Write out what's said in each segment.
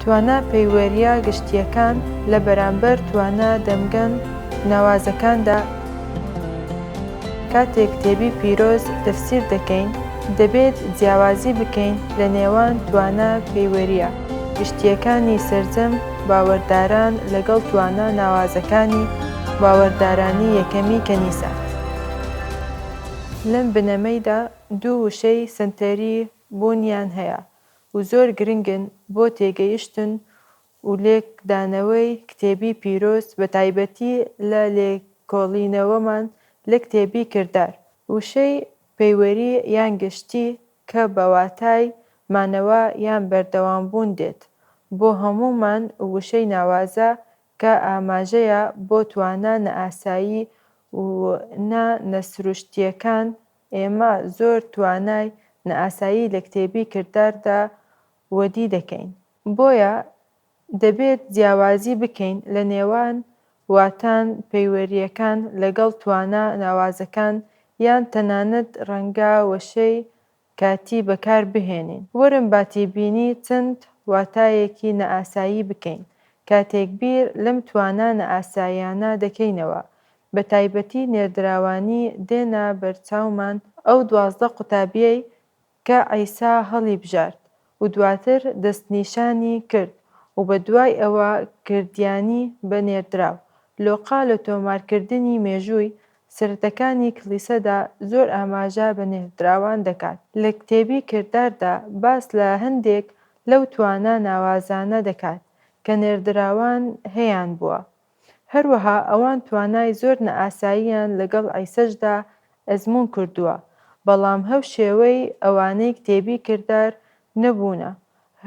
توانا پەیوەرییە گشتییەکان لە بەرامبەر توانا دەمگەن ناوازەکاندا کاتێک کتێبی پیرۆز تەفسیر دەکەین، دەبێت جیاوازی بکەین لە نێوان توانا پەیوەرییە گشتییەکانی سەرجەم باوەرداران لەگەڵ توانا ناوازەکانی باوەردارانی یەکەمی کەنیسە. لەم بنەمەیدا دوو وشەی سەنتەری بوونیان هەیە، و زۆر گرنگن بۆ تێگەیشتن و لێکدانەوەی کتێبی پیرۆز بە تایبەتی لە لێکۆڵینەوەمان لە کتێبی کردار، وشەی پەیوەری یان گشتی کە بە واتای مانەوە یان بەردەوامبوون دێت، بۆ هەموومان و وشەی ناوازە کە ئاماژەیە بۆ توانا نەئاسایی و نا نەسروشتییەکان ئێمە زۆر توانای نائاسایی لە کتێبی کرداردا وەدی دەکەین، بۆیە دەبێت جیاوازی بکەین لە نێوان واتان پەیوەرییەکان لەگەڵ توانا ناوازەکان یان تەنانەت ڕەنگە وشەی کاتی بەکار بهێنین. وەرن با تێبینی چەند واتایەکی نائاسایی بکەین کاتێک بیر لەم توانا نائاساییانە دەکەینەوە بە تایبەتی نێردراوانی دێنە بەرچاومان ئەو دوازدە قوتابیەی کە عیسا هەڵیبژارد و دواتر دەستنیشانی کرد و بە دوای ئەوە کردیانی بە نێردراو. لۆقا لە تۆمارکردنی مێژووی سرتەکانی کلیسەدا زۆر ئاماژە بە نێردراوان دەکات. لە کتێبی کرداردا باس لە هەندێک لەو توانا ناوازانە دەکات کە نێردراوان هەیان بووە. هەروەها ئەوان توانای زۆر نائاساییان لەگەڵ عیسەشدا ئەزموون کردووە، بەڵام هەو شێوەی ئەوانەی کتێبی کردار نەبوونە،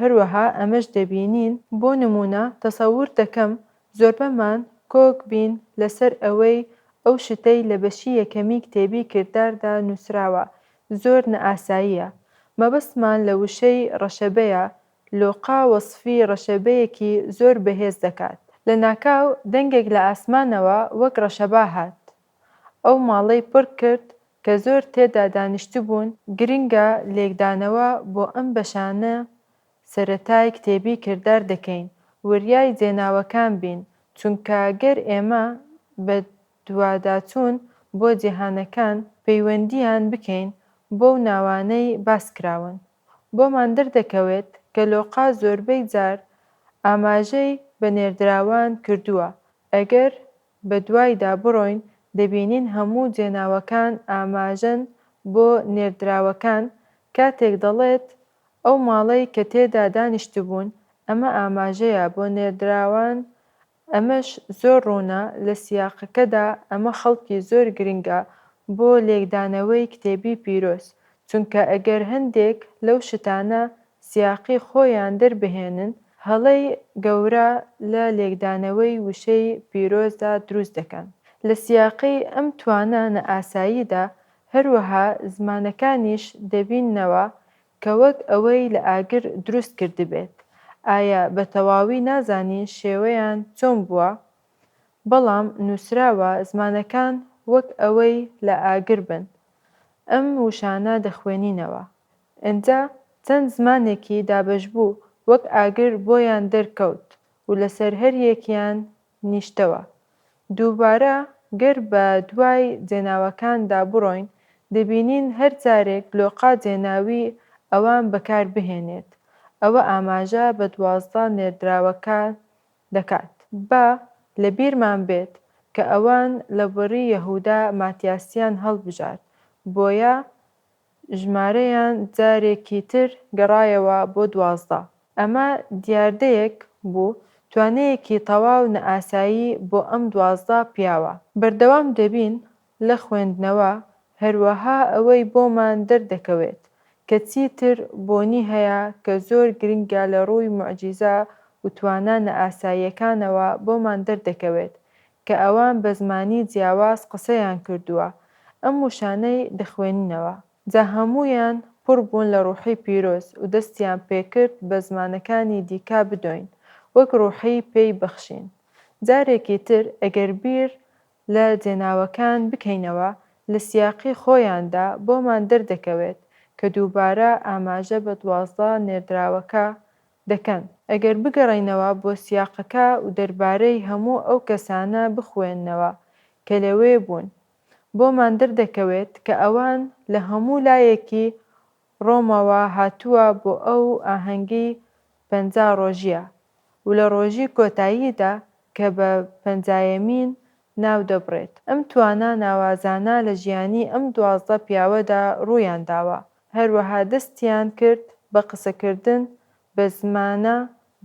هەروەها ئەمەش دەبینین، بۆ نموونە تەسەور دەکەم زۆربەمان کۆک بین لەسەر ئەوەی ئەو شتەی لە بەشی یەکەمی کتێبی کرداردا نووسراوە زۆر نائاساییە، مەبەستمان لە وشەی ڕەشەبەیە لۆقا وەسفی ڕەشەبەیەکی زۆر بەهێز دەکات. لە ناکاو دەنگێک لە ئاسمانەوە وەک ڕەشەبا هات. ئەو ماڵەی پڕ کرد کە زۆر تێدا دانیشتبوون، گرنگە لێکدانەوە بۆ ئەم بەشانە سەرەتای کتێبی کردار دەکەین وریای جێناوەکان بین چونکە گەر ئێمە بە دواداچوون بۆ جیهانەکان پەیوەندیان بکەین بەو ناوانەی باس کراون بۆمان دەردەکەوێت کە لۆقا زۆربەی جار ئاماژەی بە نێردراوان کردووە، ئەگەر بە دوایدا بڕۆین دەبینین هەموو جێناوەکان ئاماژەن بۆ نێردراوەکان، کاتێک دەڵێت ئەو ماڵەی کە تێدا دانیشتبوون، ئەمە ئاماژەیە بۆ نێردراوان ئەمەش زۆر ڕوونە لە سیاقەکەدا، ئەمە خەڵکی زۆر گرنگە بۆ لێکدانەوەی کتێبی پیرۆز، چونکە ئەگەر هەندێک لەو شتانە سیاقی خۆیان دەربهێنن، هەڵەی گەورە لە لێکدانەوەی وشەی پیرۆزدا دروست دەکەن. لە سیاقی ئەم توانا نائاساییدا، هەروەها زمانەکانیش دەبیننەوە کە وەک ئەوەی لە ئاگر دروست کردبێت، ئایا بە تەواوی نازانین شێوەیان چۆن بووە؟ بەڵام نووسراوە زمانەکان وەک ئەوەی لە ئاگر بن. ئەم وشانە دەخوێنینەوە. ئنجا چەند زمانێکی دابەشبوو وەک ئاگر بۆیان دەرکەوت و لەسەر هەریەکیان نیشتەوە. دووبارە گەر بە دوای جێناوەکاندا بڕۆین، دەبینین هەر جارێک لۆقا جێناوی ئەوان بەکار بهێنێت، ئەوە ئاماژە بە دوازدە نێردراوەکان دەکات. با لە بیرمان بێت کە ئەوان لە بڕی یەهودا ماتیاسیان هەڵبژارد، بۆیە ژمارەیان جارێکی تر گەڕایەوە بۆ دوازدە. ئەمە دیاردەیەک بوو، توانەیەکی تەواو نائاسایی بۆ ئەم دوازدە پیاوە. بەردەوام دەبین لە خوێندنەوە، هەروەها ئەوەی بۆمان دەردەکەوێت کە چیتر بۆنی هەیە کە زۆر گرنگە لە ڕووی موعجیزە و توانا نائاساییەکانەوە بۆمان دەردەکەوێت کە ئەوان بە زمانی جیاواز قسەیان کردووە ئەم وشانەی بخوێننەوە جا هەموویان پڕ بوون لە ڕوحی پیرۆز و دەستیان پێکرد بە زمانەکانی دیکە بدۆین وەک ڕوحی پێی بخشین جارێکی تر ئەگەر بیر لە جێناوەکان بکەینەوە لە سیاقی خۆیاندا بۆمان دەردەکەوێت کە دووبارە ئاماژە بە دوازدە نێردراوەکە دەکەن، ئەگەر بگەڕێینەوە بۆ سیاقەکە ودەربارەی هەموو ئەو کەسانە بخوێننەوە کە لەوێ بوون، بۆمان دەردەکەوێت کە ئەوان لە هەموو لایەکی ڕۆمەوە هاتووە بۆ ئەو ئاهەنگی پەنجا ڕۆژییە ولە ڕۆژی کۆتاییدا کە بە پەنجایەمین ناو دەبرێت. ئەم توانا ناوازانە لە ژیانی ئەم دوازدە پیاوەدا ڕوویان داوە، هەروەها دەستیان کرد بە قسەکردن بە زمانە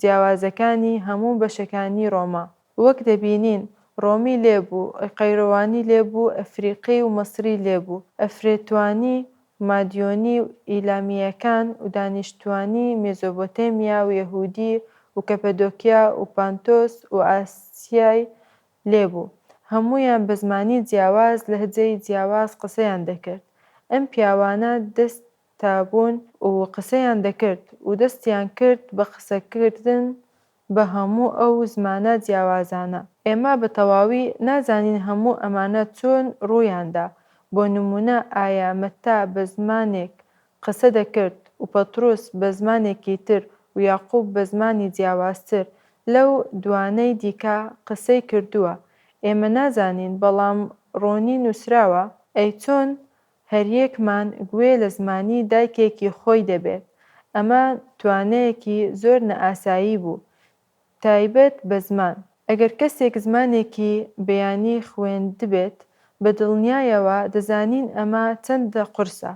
جیاوازەکانی هەموو بەشەکانی ڕۆما. وەک دەبینین ڕۆمی لێ بوو، قەیروانی لێ بوو، ئەفریقی و مەسری لێ بوو، ئەفرێتوانی و مادیۆنی و ئیلامییەکان و دانیشتوانی مێزۆبۆتێمیا و یەهوودی و کەپەدۆکیا و پانتۆس و ئاسیای لێبوو. هەموویان بە زمانی جیاواز، لەهجەی جیاواز قسەیان دەکرد. ئەم پیاوانە دەست تابوون و قسەیان دەکرد و دەستیان کرد بە قسەکردن بە هەموو ئەو زمانە جیاوازانە. ئێمە بە تەواوی نازانین هەموو ئەمانە چۆن ڕوویاندا. بۆ نموونە ئایا مەتتا بە زمانێک قسە دەکرد و پەتڕوس بە زمانێکی تر و یاقوب بە زمانی جیاوازتر لەو دوانەی دیکە قسەی کردووە، ئێمە نازانین، بەڵام ڕۆنی نووسراوە، ئەی چۆن هەریەکمان گوێ لە زمانی دایکێکی خۆی دەبێت، ئەمە توانەیەکی زۆر نائاسایی بوو، تایبەت بە زمان، ئەگەر کەسێک زمانێکی بیانی خوێندبێت، بە دڵنیایەوە دەزانین ئەمە چەندە قورسە.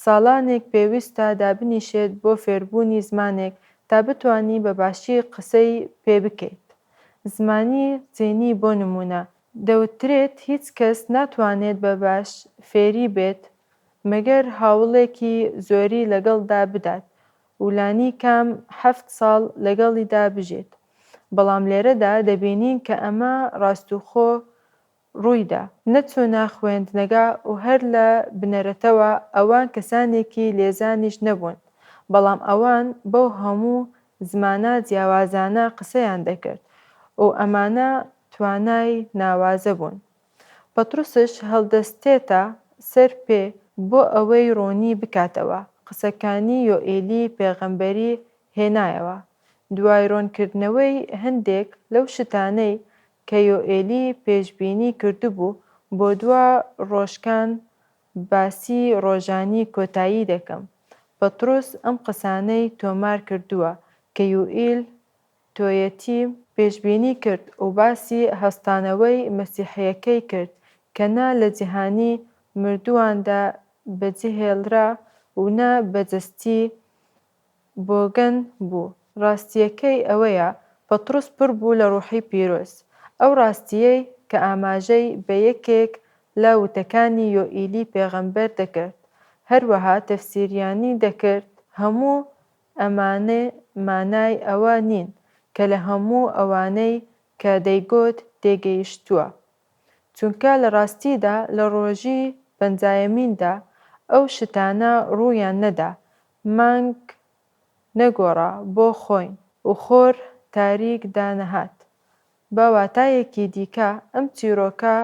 ساڵانێک پێویستە دابنیشێت بۆ فێربوونی زمانێک تا بتوانی بە باشی قسەی پێ بکەیت. زمانی چینی بۆ نموونە، دەوترێت هیچ کەس ناتوانێت بە باش فێری بێت مەگەر هەوڵێکی زۆری لەگەڵدا بدات و لانیکەم حەفت ساڵ لەگەڵیدا بژێت، بەڵام لێرەدا دەبینین کە ئەمە ڕاستوخۆ ڕوویدا، نەچوو نا خوێندنگە و هەر لە بنەرەتەوە ئەوان کەسانێکی لێزانیش نەبوون، بەڵام ئەوان بەو هەموو زمانە جیاوازانە قسەیان دەکرد و ئەمانە توانای ناوازە بوون. پەتروسش هەڵدەستێتە سەر پێ بۆ ئەوەی ڕوونی بکاتەوە، قسەکانی یۆئێلی پێغەمبەری هێنایەوە، دوای ڕوونکردنەوەی هەندێک لەو شتانەی کە یۆئێلی پێشبینی کردبوو، بۆ دوا ڕۆژکان باسی ڕۆژانی کۆتایی دەکەم. پەتروس ئەم قسانەی تۆمار کردووە کە یوئیل توێتی پێشبینی کرد و باسی هەستانەوەی مەسیحییەکەی کرد کە نە لە جیهانی مردوواندا بەجێهێڵرا و نە بە جەستیی بۆگەن بوو. ڕاستییەکەی ئەوەیە پەتڕوس پڕ بوو لە ڕوحی پیرۆز، ئەو ڕاستییەی کە ئاماژەی بە یەکێک لە وتەکانی یۆئیلی پێغەمبەر دەکرد، هەروەها تەفسیریانی دەکرد، هەموو ئەمانە مانای ئەوە نین کە لە هەموو ئەوانەی کە دەیگوت تێگەیشتووە، چونکە لە ڕاستیدا لە ڕۆژی پەنجایەمیندا ئەو شتانە ڕوویان نەدا، مانگ نەگۆڕا بۆ خۆین و خۆر تاریک دانەهات. بە واتایەکی دیکە، ئەم چیرۆکە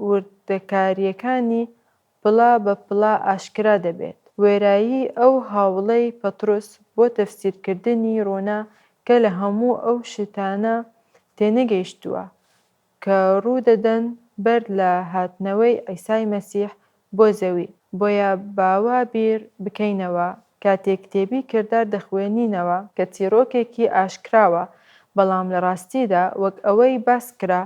وردەکارییەکانی پڵە بە پڵە ئاشکرا دەبێت. وێرایی ئەو هاوڵەی پەتڕوس بۆ تەفسیرکردنی ڕوونە کە لە هەموو ئەو شتانە تێنەگەیشتووە کە ڕوو دەدەن بەر لە هاتنەوەی عیسای مەسیح بۆ زەوی. بۆیە با وا بیر بکەینەوە کاتێک کتێبی کردار دەخوێنینەوە کە چیڕۆکێکی ئاشکراوە، بەڵام لە ڕاستیدا وەک ئەوەی باس کرا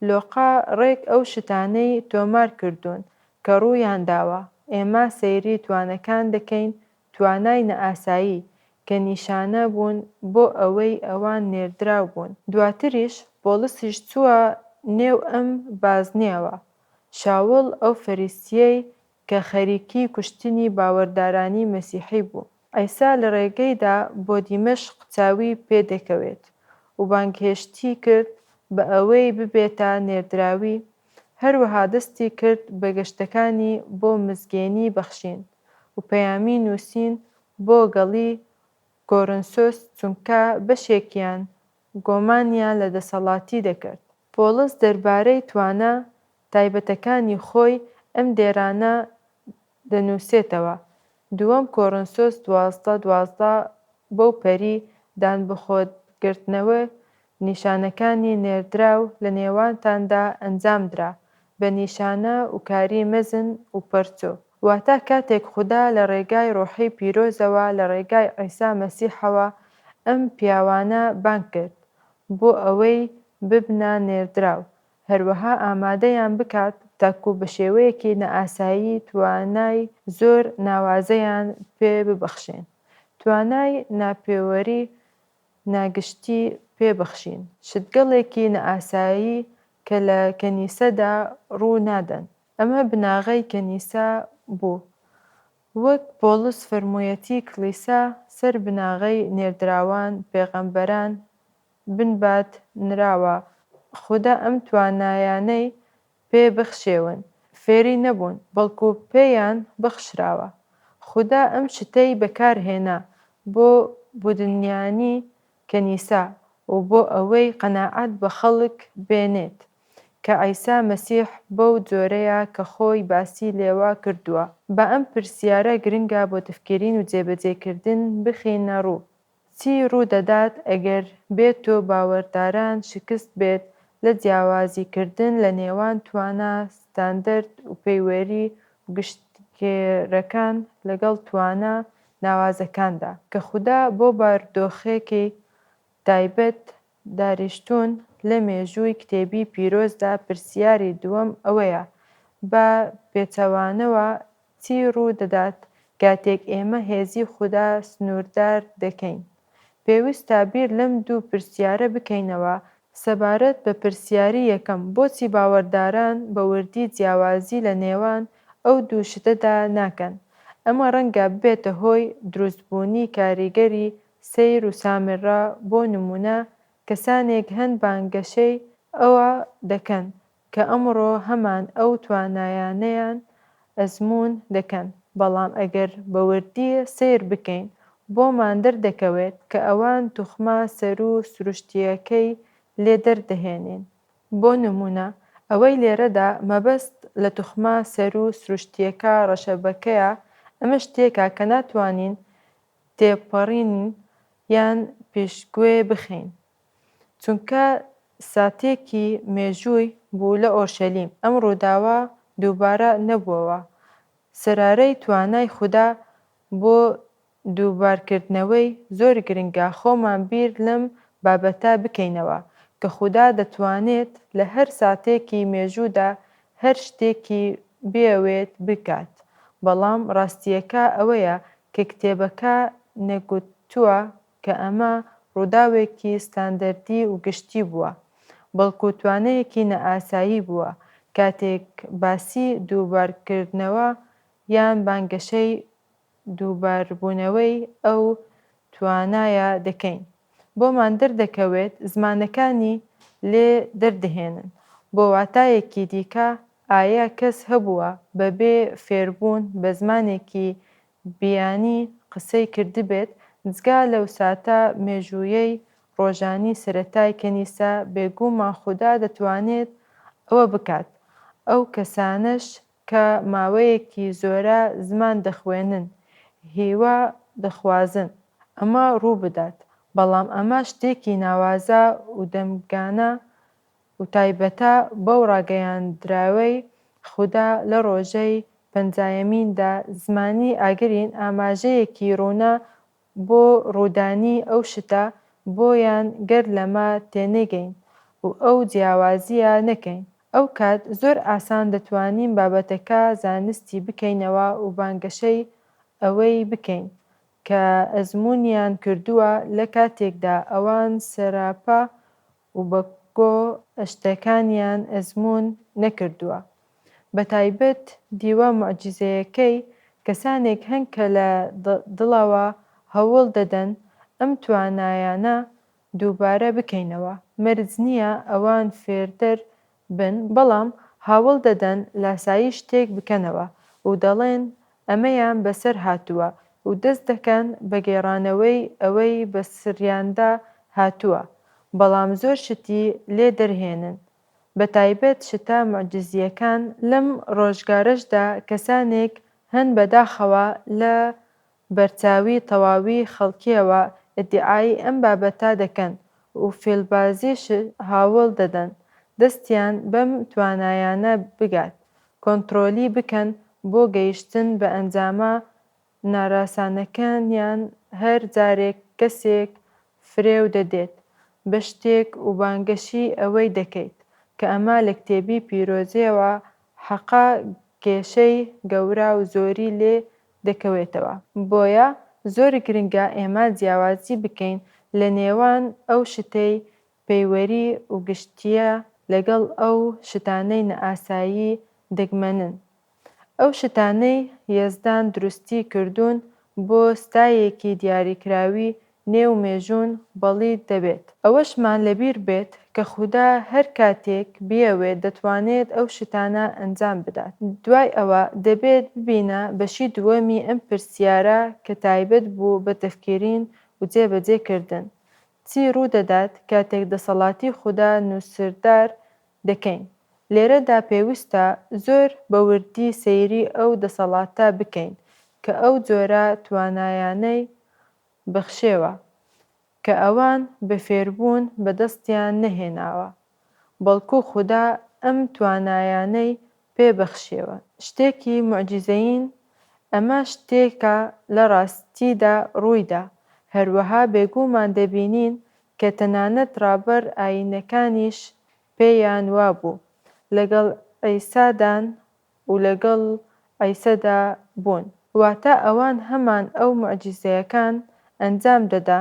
لۆقە ڕێک ئەو شتانەی تۆمار کردوون کە ڕوویان داوە، ئێمە سەیری توانەکان دەکەین، توانای نائاسایی، کە نیشانە بوون بۆ ئەوەی ئەوان نێردراو بوون. دواتریش بۆڵسیش چووە نێو ئەم بازنەیەوە، شاوڵ ئەو فەریسییەی کە خەریکی کوشتنی باوەردارانی مەسیحی بوو. عیسا لە ڕێگەیدا بۆ دیمەشق چاوی پێ دەکەوێت و بانگهێشتی کرد بە ئەوەی ببێتە نێردراوی، هەروەها دەستی کرد بە گەشتەکانی بۆ مزگێنی بەخشین و پەیامی نووسین بۆ گەڵی کۆرنسۆس چونکە بەشێکیان گۆمانیان لە دەسەڵاتی دەکرد. پۆڵس دەربارەی توانا تایبەتەکانی خۆی ئەم دێرانە دەنووسێتەوە، دووەم کۆرنسۆس دوازدە دوازدە بەو پەری دان بخۆت گرتنەوە نیشانەکانی نێردراو لە نێوانتاندا ئەنجام درا بە نیشانە وکاری مەزن وپەرچۆ واتا کاتێک خودا لە ڕێگای ڕۆحی پیرۆزەوە لە ڕێگای عیسا مەسیحەوە ئەم پیاوانە بانگ کرد بۆ ئەوەی ببنە نێردراو هەروەها ئامادەیان بکات تاکو بە شێوەیەکی نائاسایی توانای زۆر ناوازەیان پێ ببەخشێن، توانای ناپێوەری ناگشتی پێ بخشین، شتگەلێکی نائاسایی کە لە کەنیسەدا ڕوو نادەن. ئەمە بناغەی کەنیسە بوو. وەک پۆڵس فەرموویەتی کڵیسا سەر بناغەی نێردراوان، پێغەمبەران، بنبات نراوە خودا ئەم توانایانەی پێ بخشێون فێری نەبوون بەڵکو پێیان بخشراوە خودا ئەم شتەی بەکار هێنا بۆ بودنیانی کەنیسە و بۆ ئەوەی قەناعەت بە خەڵک بێنێت کە عیسا مەسیح بەو جۆرەیە کە خۆی باسی لێوە کردووە با ئەم پرسیارە گرنگە بۆ تفکیرین و جێبەجێ کردن بخینە ڕوو چی ڕوو دەدات ئەگەر بێ تۆ باوەرداران شکست بێت لە جیاوازی کردن لە نێوان توانا ستاندەرد و پەیوەری و گشتگێرەکان لەگەڵ توانا ناوازەکاندا کە خودا بۆ باردۆخێکی تایبەت داریشتوون لە مێژووی کتێبی پیرۆزدا پرسیاری دووەم ئەوەیە، با پێچەوانەوە چی ڕوو دەدات کاتێک ئێمە هێزی خودا سنووردار دەکەین؟ پێویستە بیر لەم دوو پرسیارە بکەینەوە، سەبارەت بە پرسیاری یەکەم، بۆچی باوەڕداران بە وردی جیاوازی لە نێوان ئەو دوو شتەدا ناکەن؟ ئەمە ڕەنگە ببێتە هۆی دروستبوونی کاریگەری سیر و سامرا بۆ نموونە کەسانێک هەن بانگەشەی ئەوە دەکەن کە ئەمڕۆ هەمان ئەو توانایانەیان ئەزموون دەکەن، بەڵام ئەگەر بە وردی سەیر بکەین بۆمان دەردەکەوێت کە ئەوان توخمە سەروو سروشتییەکەی لێ دەردەهێنین. بۆ نموونە ئەوەی لێرەدا مەبەست لە توخمە سەروو سروشتییەکە ڕەشەبەکەیە، ئەمەش شتێکە کە ناتوانین تێپەڕین یان پێشگوێ بخەین، چونکە ساتێکی مێژووی بوو لە ئۆرشەلیم، ئەم ڕووداوە دووبارە نەبووەوە، سەرارەی توانای خودا بۆ دووبارکردنەوەی زۆر گرنگە خۆمان بیر لەم بابەتە بکەینەوە، کە خودا دەتوانێت لە هەر ساتێکی مێژوودا هەر شتێکی بیەوێت بکات، بەڵام ڕاستییەکە ئەوەیە کە کتێبەکە نەگوتووە کە ئەمە ڕووداوێکی ستاندەردی و گشتی بووە، بەڵکو توانەیەکی نائاسایی بووە کاتێک باسی دووبارکردنەوە یان بانگەشەی دووباربوونەوەی ئەو توانایە دەکەین. بۆمان دەردەکەوێت زمانەکانی لێ دەردەهێنن. بۆ واتایەکی دیکە ئایە کەس هەبووە بەبێ فێربوون بە زمانێکی بیانی قسەی کردبێت، جگا لەو ساتە مێژوویەی ڕۆژانی سەرەتای کەنیسە، بێگوومان خودا دەتوانێت ئەوە بکات، ئەو کەسانەش کە ماوەیەکی زۆرە زمان دەخوێنن، هیوا دەخوازن ئەمە ڕووبدات، بەڵام ئەمە شتێکی ناوازە و دەمگانە و تایبەتە بەو ڕاگەیاندراوەی خودا لە ڕۆژەی پەنجایەمیندا، زمانی ئاگرین ئاماژەیەکی ڕوونە بۆ ڕوودانی ئەو شتە بۆیان گەر لەمە تێنەگەین و ئەو جیاوازییە نەکەین ئەوکات زۆر ئاسان دەتوانین بابەتەکە زانستی بکەینەوە و بانگەشەی ئەوەی بکەین کە ئەزموونیان کردووە لە کاتێکدا ئەوان سەراپا و بە گۆ شتەکانیان ئەزموون نەکردووە بە تایبەت دیوە موعجیزەیەکەی کەسانێک هەن کە لە دڵەوە هەوڵ دەدەن ئەم توانایانە دووبارە بکەینەوە مەرج نییە ئەوان فێرتر بن، بەڵام هاوڵ دەدەن لاساییش تێک بکەنەوە و دەڵێن ئەمەیان بەسەر هاتووە و دەست دەکەن بە گێڕانەوەی ئەوەی بەسریاندا هاتووە، بەڵام زۆر شتی لێ دەرهێنن، بە تایبەت شتە موعجیزییەکان، لەم ڕۆژگارەشدا کەسانێک هەن بەداخەوە لە بەرچاوی تەواوی خەڵکیەوە ئیدعای ئەم بابەتە دەکەن و فێلبازیش هاوڵ دەدەن دەستیان بەم توانایانە بگات کۆنترۆلی بکەن بۆ گەیشتن بە ئەنجامە ناراسانەکانیان هەر جارێک کەسێک فرێو دەدێت بە شتێک وبانگەشی ئەوەی دەکەیت کە ئەمە لە کتێبی پیرۆزیەوە حەقە گێشەی گەوراو زۆری لێ دەکەوێتەوە بۆیە زۆر گرنگە ئێمە جیاوازی بکەین لە نێوان ئەو شتەی پەیوەری وگشتیە لەگەڵ ئەو شتانەی نەئاسایی دەگمەنن ئەو شتانەی یەزدان دروستی کردوون بۆ ستایەکی دیاریکراوی نێو مێژوون بەڵید دەبێت. ئەوەشمان لەبیر بێت کە خودا هەر کاتێک بیەوێت دەتوانێت ئەو شتانە ئەنجام بدات. دوای ئەوە دەبێت ببینە بەشی دووەمی ئەم پرسیارە کە تایبەت بوو بە تفکیرین و جێ بە جێ کردن، چی ڕوو دەدات کاتێک دەسەڵاتی خودا نووسردار دەکەین؟ لێرەدا پێوستە زۆر بە وردی سەیری ئەو دەسەڵاتە بکەین کە ئەو جۆرە توانایانەی بخشێوە، کە ئەوان بە فێربوون بە دەستیان نەهێناوە، بەڵکو خودا ئەم توانایانەی پێ بخشێوە، شتێکی موعجیزەیین، ئەمە شتێکە لە ڕاستیدا ڕوویدا، هەروەها بێگوومان دەبینین کە تەنانەت ڕابەر ئایینەکانیش پێیان وابوو لەگەڵ عیسادان و لەگەڵ عیسەدا بوون. واتە ئەوان هەمان ئەو موعجیزەیەکان ئەنجام دەدا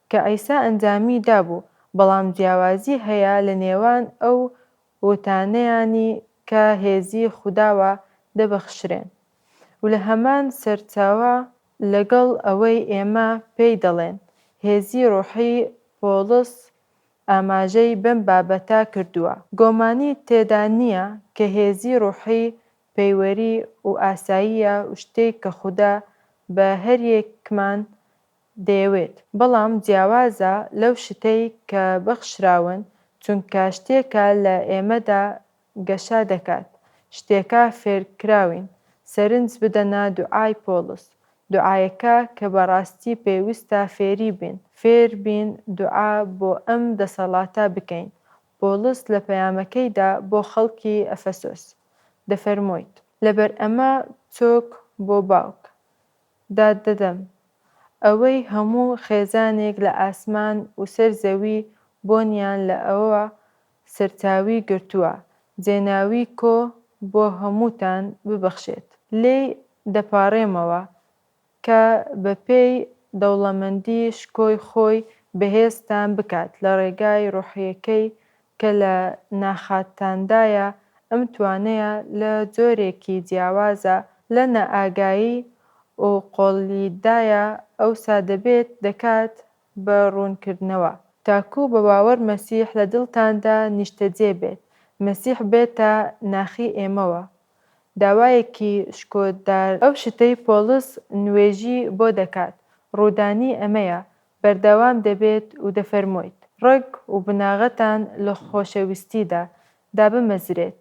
کە عیسا ئەنجامی دابوو، بەڵام جیاوازی هەیە لە نێوان ئەو وتانەیانی کە هێزی خوداوە دەبەخشرێن و لە هەمان سەرچاوە، لەگەڵ ئەوەی ئێمە پێی دەڵێن هێزی ڕۆحی پۆڵس ئاماژەی بەم بابەتە کردووە، گۆمانی تێدا نییە کە هێزی ڕوحی پەیوەری و ئاساییە و شتێک کە خودا بە هەریەکمان دەیەوێت، بەڵام جیاوازە لەو شتەی کە بەخشراون، چونکە شتێکە لە ئێمەدا گەشە دەکات شتێکە فێرکراوین سەرنج بدەنە دوعای پۆڵس دوعایەکە کە بەڕاستی پێوستە فێری بین فێر بین دوعا بۆ ئەم دەسەڵاتە بکەین پۆڵس لە پەیامەکەیدا بۆ خەڵکی ئەفەسۆس دەفەرموویت لەبەر ئەمە چۆک بۆ باوک داد دەدەم ئەوەی هەموو خێزانێک لە ئاسمان و سەر زەوی بۆنیان لە ئەوە سەرچاوی گرتووە جێناوی کۆ بۆ هەمووتان ببەخشێت لێی دەپاڕێمەوە کە بەپێی دەوڵەمەندی شکۆی خۆی بەهێزتان بکات لە ڕێگای ڕۆحیەکەی کە لە ناخاتاندایە ئەم توانەیە لە جۆرێکی جیاوازە لە نائاگایی و قۆڵیدایە ئەوسا دەبێت دەکات بە ڕوونکردنەوە، تاکوو بە باوەڕ مەسیح لە دڵتاندا نیشتەجێ بێت، مەسیح بێتە ناخی ئێمەوە. داوایەکی شکۆدار. ئەو شتەی پۆڵس نوێژی بۆ دەکات، ڕوودانی ئەمەیە، بەردەوام دەبێت و دەفەرموویت، ڕەگ و بناغەتان لە خۆشەویستیدا دابمەزرێت،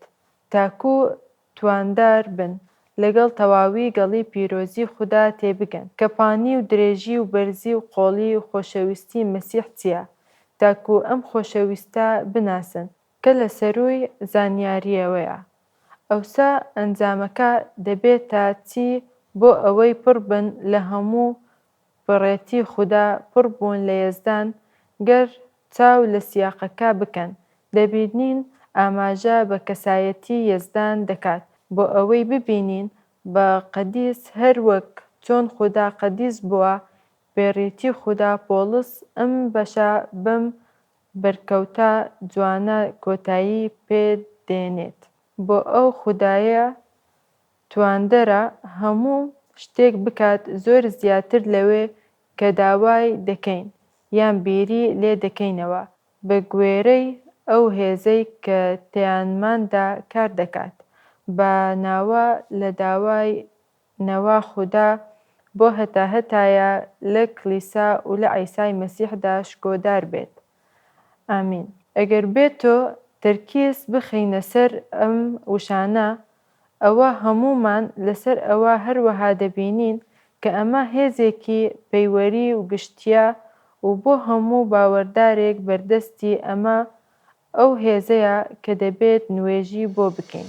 تاکوو تواندار بن لەگەڵ تەواوی گەڵی پیرۆزی خودا تێبگەن کە پانی و درێژی و بەرزی و قۆڵی و خۆشەویستی مەسیح چیە تاکو ئەم خۆشەویستە بناسن کە لە سەرووی زانیاریەوەیە ئەوسا ئەنجامەکە دەبێتە چی بۆ ئەوەی پڕ بن لە هەموو بەڕێتی خودا پڕ بوون لە یەزدان گەر چاو لە سیاقەکە بکەن دەبینین ئاماژە بە کەسایەتی یەزدان دەکات بۆ ئەوەی ببینین بە قەدیس هەر وەک چۆن خودا قەدیس بووە بەێڕێتی خودا پۆڵس ئەم بەشە بەم بەرکەوتە جوانە کۆتایی پێ دێنێت بۆ ئەو خودایە تواندەرە هەموو شتێک بکات زۆر زیاتر لەوەی کە داوای دەکەین یان بیری لێ دەکەینەوە بە گوێرەی ئەو هێزەی کە تەیانماندا کار دەکات بە ناوە لە داوای نەوە خودا بۆ هەتا هەتایە لە کلیسا و لە عیسای مەسیحدا شکۆدار بێت ئامین. ئەگەر بێتۆ تەرکیز بخەینە سەر ئەم وشانە ئەوا هەموومان لەسەر ئەوە هەروەها دەبینین کە ئەمە هێزێکی پەیوەری و گشتییە و بۆ هەموو باوەردارێک بەردەستی ئەمە ئەو هێزەیە کە دەبێت نوێژی بۆ بکەین.